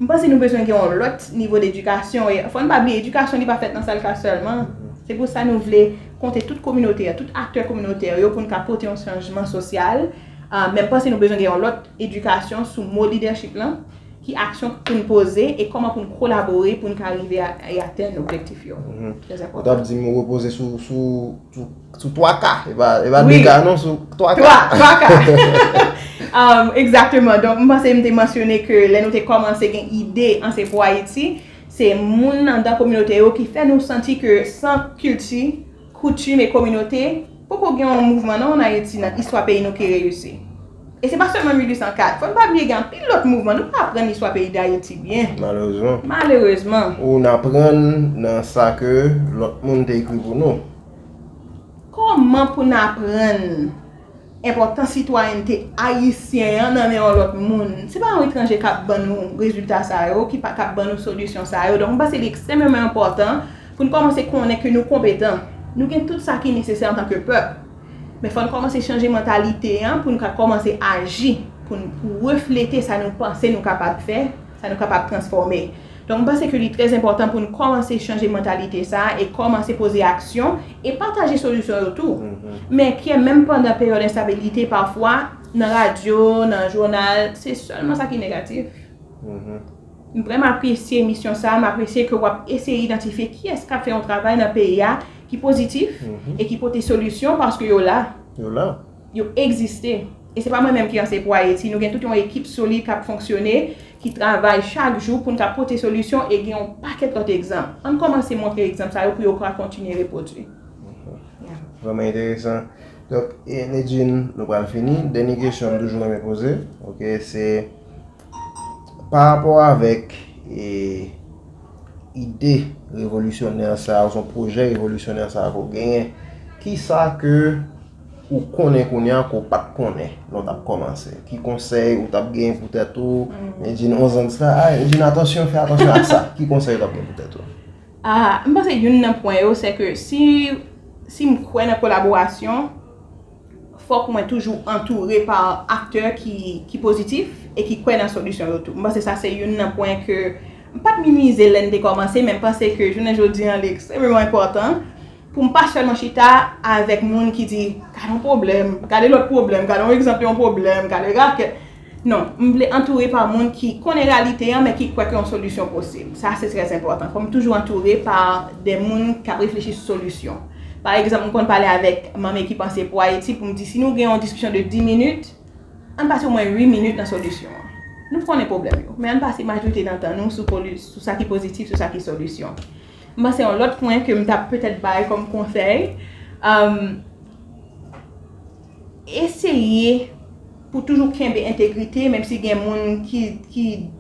M panse nou bezwen gen yon lòt nivo dedikasyon. E fò n pa bliye, edikasyon li pa fèt nan sal klas sèlman. Se pou sa nou vle konte tout kominote a, tout aktè kominotè yo pou n ka pote yon chanjman sosyal. Men m panse nou bezwen gen yon lòt edikasyon sou mo lidèchip lan, ki aksyon pou n poze e kòman pou n kolabore pou n ka rive e atenn objektif yo. Trèzenpòtan. Ou t ap di m repoze sou. Sou 3 ka, e pa 2 ka non, sou 3 ka. 3 ka. Ekzakteman, donk m panse m te mansyone ke lè nou te kòmanse gen ide Anse Pou Ayiti, se moun nan dan kominote yo ki fè nou santi ke san kilti, koutim e kominote, poko gen yon mouvman non an Ayiti nan istwa peyi nou ki reyisi. E se pa sèlman 1804, fò n pa bliye gen anpil lòt mouvman, nou pa aprann istwa peyi Dayiti byen. Malerezman. Malerezman. Ou n aprann nan sa ke lòt moun te ekri pou nou. Kòman pou n aprann enpòtans sitwayènte ayisyen an nan men yon lòt moun? Se pa yon etranje k ap ban nou rezilta sa yo, k ap ban nou solisyon sa yo. Donk, m panse li ekstrèmeman enpòtan pou n kòmanse konnen ke nou konpetan. Nou gen tout sa ki nesesè antanke pèp. Men fò n kòmanse chanje mantalite an pou n ka kòmanse aji, pou n reflete sa nou panse nou kapab fè. sa nou kapab transfòme. Donk m panse ke li trè enpòtan pou nou kòmanse chanje mantalite sa a e kòmanse poze aksyon e pataje solisyon yo tou. Men Pyè menm pandan peryòd enstabilite pafwa nan radyo, nan jounal, se sèlman sa ki negatif. M vrèman apresye emisyon sa a, m apresye ke w ap eseye idantifye kiyès k ap fè yon travay nan peyi a ki pozitif e ki pote solisyon paske yo la. Yo la. Yo egziste. E se pa mwen menm ki anseye pou Ayiti. Nou gen tout yon ekip solid k ap fonksyone, ki travay chak jou pou n ka pote solisyon e gen yon pakèt lòt egzanp. An n kòmanse montre egzanp sa yo pou yo ka kontinye repwodui. Vrèman enteresan. Donk, Nedjine, nou pral fini. Dènye kesyon m toujou renmen poze, ok, se parapò avèk ide revolisyonè sa a oswa pwojè revolisyonè sa a ke w genyen, kisa ke Ou konnen kounya ke w pa t konnen lè w t ap kòmanse. Ki konsèy ou t ap gen pou tèt ou? Nidjine, onzan disa, a, Nidjine, atansyon, fè atansyon ak sa. Ki konsèy ou t ap gen pou tèt ou? A, m panse youn nan pwen yo, se ke si, si m kwè nan kolaborasyon, fòk mwen toujou antoure pa aktè ki, ki pozitif e ki kwè nan solisyon yo tou. M panse sa se youn nan pwen ke, m pa t minimize lè n te kòmanse, men m panse ke jounen jodi an li ekstrèmeman enpòtan. Pou m pa sèlman chita avèk moun ki di, gade yon pwoblèm, gade lòt pwoblèm, gade yon egzanp yon pwoblèm, gade rakèt. Non, m vle antoure pa moun ki konnen reyalite an men ki kwè ke yon solisyon posib. Sa se trè enpòtan. Fò m toujou antoure pa de moun k ap reflechi sou solisyon. Pa egzanp, m konn pale avèk Manmie ki panse pou Ayiti pou m di si nou gen yon diskisyon de 10 minit, ann pase omwen 8 minit nan solisyon an. Nou konnen pwoblèm yo, men ann pase majorite nan tan nou sou sa ki pozitif, sou sa ki solisyon. M panse yon lòt pwen ke m ta petèt bay kòm konsèy, eseye pou toujou kenbe entegrite menm si gen moun ki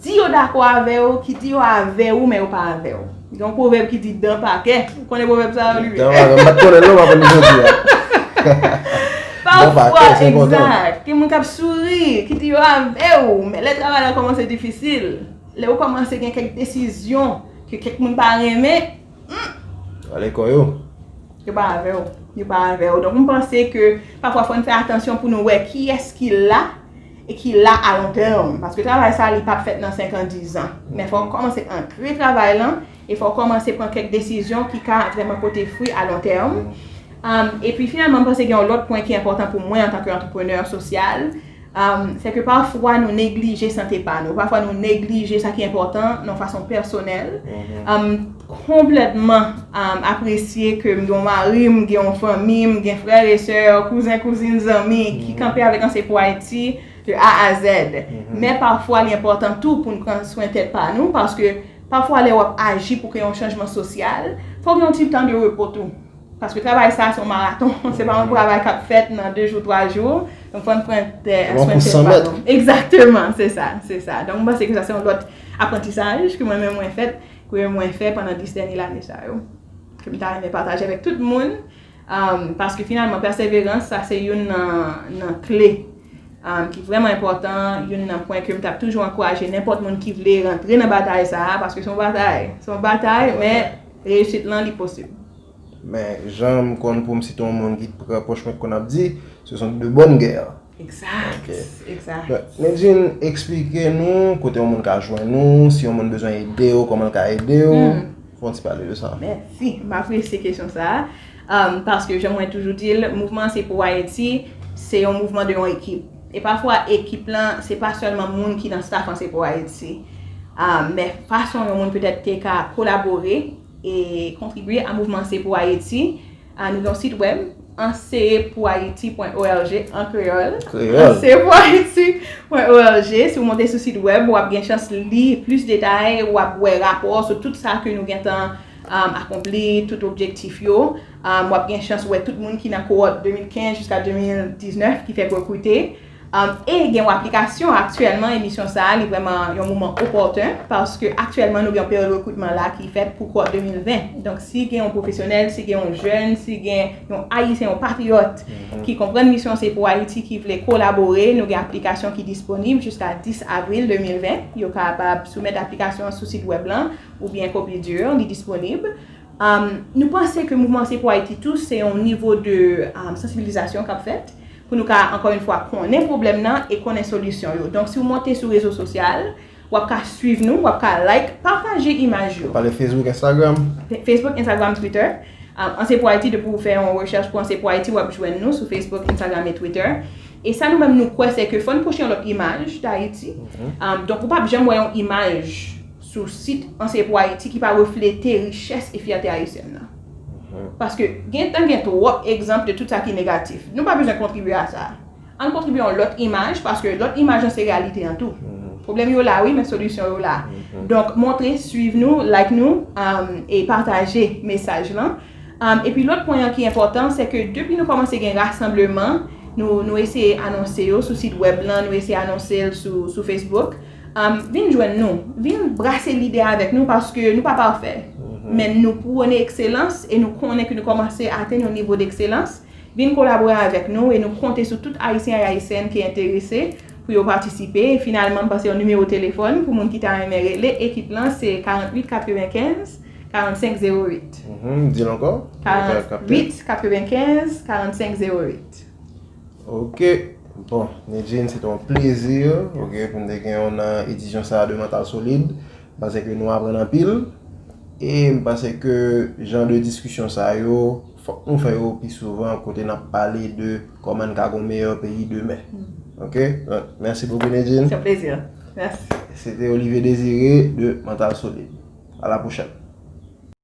di yo dakò avè w, ki di yo avè ou men yo pa avè w. Gen yon pwovèb ki di dan pa kè. Ou konnen pwovèb sa yo Olivier? Dan pa kè. M pa t konnen l non, m aprann li jodi a. Dan pa kè, se bon dan. Egzat. Gen moun k ap souri, ki di yo avè w, men lè travay la kòmanse difisil, lè ou kòmanse gen kèk desizyon. Ke kèk moun pa renmen, humm. Rale kò yo. Yo pa avè w. Yo pa avè w. Donk m panse ke pafwa fò n fè atansyon pou nou wè kiyès ki la e ki la a lon tèm. Paske travay sa li pap fèt nan 5 an, 10 an. Men fò w kòmanse ankre travay lan e fò w kòmanse pran kèk desizyon ki ka vrèman pote fwi a lon tèm. Epi finalman m panse gen yon lòt pwen ki enpòtan pou mwen antanke antreprenè sosyal. Se ke pafwa nou neglije sante pa nou, pafwa nou neglije sa ki enpòtan nan fason pèsonèl. M konplètman apresye ke m gen yon mari, m gen yon fanmi, m gen frè e sè, kouzen, kouzin, zanmi ki kanpe avèk Anse pou Ayiti de A a Zèd. Men pafwa li enpòtan tou pou n pran swen tèt pa nou paske pafwa lè w ap aji pou kreye yon chanjman sosyal, fò w gen yon ti tan de repo tou. Paske travay sa a se yon maraton, se pa yon travay k ap fèt nan 2 jou, 3 jou. Donk fò n pran swen tèt pa nou. Egzakteman, se sa, se sa. Donk m panse ke sa se yon lòt aprantisaj ke mwen menm mwen fèt, ke mwen fè pandan 10 dènye lane sa yo. Ke m ta renmen pataje avèk tout moun. Paske finalman pèseverans sa se youn nan kle ki vrèman enpòtan, youn nan pwen ke m t ap toujou ankouraje nenpòt moun ki vle rantre nan batay sa a. Paske se yon batay, se yon batay men. Reyisit lan li posib. Men jan m konn pou m site yon moun ki t pre pwòch mwen t konn ap di, ce sont de bonnes guerres. Exact! Exact! Nidjine, eksplike nou kote yon moun ka jwenn ou, si yon moun bezwen ede ou, kòman l ka ede ou? Fè yon ti pale de sa. Mèsi! M apresye kesyon sa a. Paske jan mwen toujou di l, mouvman an se pou Ayiti, se yon mouvman de yon ekip. E pafwa ekip lan, se pa sèlman moun ki nan staf an se pou Ayiti. Men fason yon moun petèt te ka kolabore e kontribye a mouvman se pou Ayiti, nou gen yon sit wèb, anseyepouayiti.org, an kreyòl, anseyepouayiti.org. Si w monte sou sit wèb, w ap gen chans li plis detay, w ap wè rapò sou tout sa ke nou gentan. akonpli tout objektif yo, w ap gen chans wè tout moun ki nan kowòt 2015 jiska 2019 ki fèk rekrite, e gen yon aplikasyon aktyèlman emisyon sa a li vrèman yon moman opòten paske aktyèlman nou gen yon peryòd rekritman la ki fèt pou kowòt 2020 donk si gen yon pwofesyonèl, si gen yon jèn, si gen yon ayisyen, yon patriyòt ki konprann misyon Se Pou Ayiti ki vle kolabore nou gen aplikasyon ki disponib jiska 10 avril 2020 yo kapab soumèt aplikasyon an sou sit wèb lan oubyen kopye di yo, li disponib. Nou panse ke Mouvman Se Pou Ayiti tou se yon nivo de sansibilizasyon k ap fèt pou nou ka, ankò yon fwa, konnen pwoblèm nan e konnen solisyon yo. Donk, si w monte sou rezo sosyal, w ap ka suiv nou, w ap ka like, pataje imaj yo. Pale Facebook, Instagram. Facebook, Instagram, Twitter. An Se Pou Ayiti, depi w fè yon rechèch pou An Se Pou Ayiti, w ap jwenn nou sou Facebook, Instagram e Twitter. E sa nou menm nou kwè, sè ke fò n poste yon lòt imaj Dayiti. Donk, ou p ap janm wè yon imaj. sou sit AnseyPouAyiti ki pa reflete richès e fyète ayisyèn nan. Paske gen tan gen twòp egzanp de tout sa ki negatif. Nou pa bezwen kontribye a sa. Ann kontribye yon lòt imaj paske lòt imaj lan se reyalite an tou. Pwoblèm yo la wi men solisyon yo la. Donk montre, swiv nou, like nou e pataje mesaj lan. Epi lòt pwen an ki enpòtan se ke depi nou kòmanse gen rasanbleman nou eseye anonse yo sou sit wèb lan, nou eseye anonse l sou Facebook. Vin jwenn nou, vin brase lide avèk nou paske nou pa pafè, men nou pwone ekselans e nou konnen ke nou kòmanse atenn yon nivo dekselans. Vin kolabore avèk nou e nou konte sou tout Ayisyen ak Ayisyèn ki enterese pou yo patisipe. E finalman, m pase yon nimewo telefòn pou moun ki ta renmen rele ekip lan se 48 95 45 08. Di l ankò. 48 95 45 08. Ok bon Nidjine se te yon plezi ok pou m te gen w nan edisyon sa de Mantal Solid m panse ke nou aprann anpil e m panse ke jan de diskisyon sa yo fòk nou fè yo pi souvan kote n ap pale de kòman n ka gon meyè peyi demen ok mèsi bokou Nidjine se yon plezi mèsi se te Olivier Désiré de Mantal Solid a la pwochèn.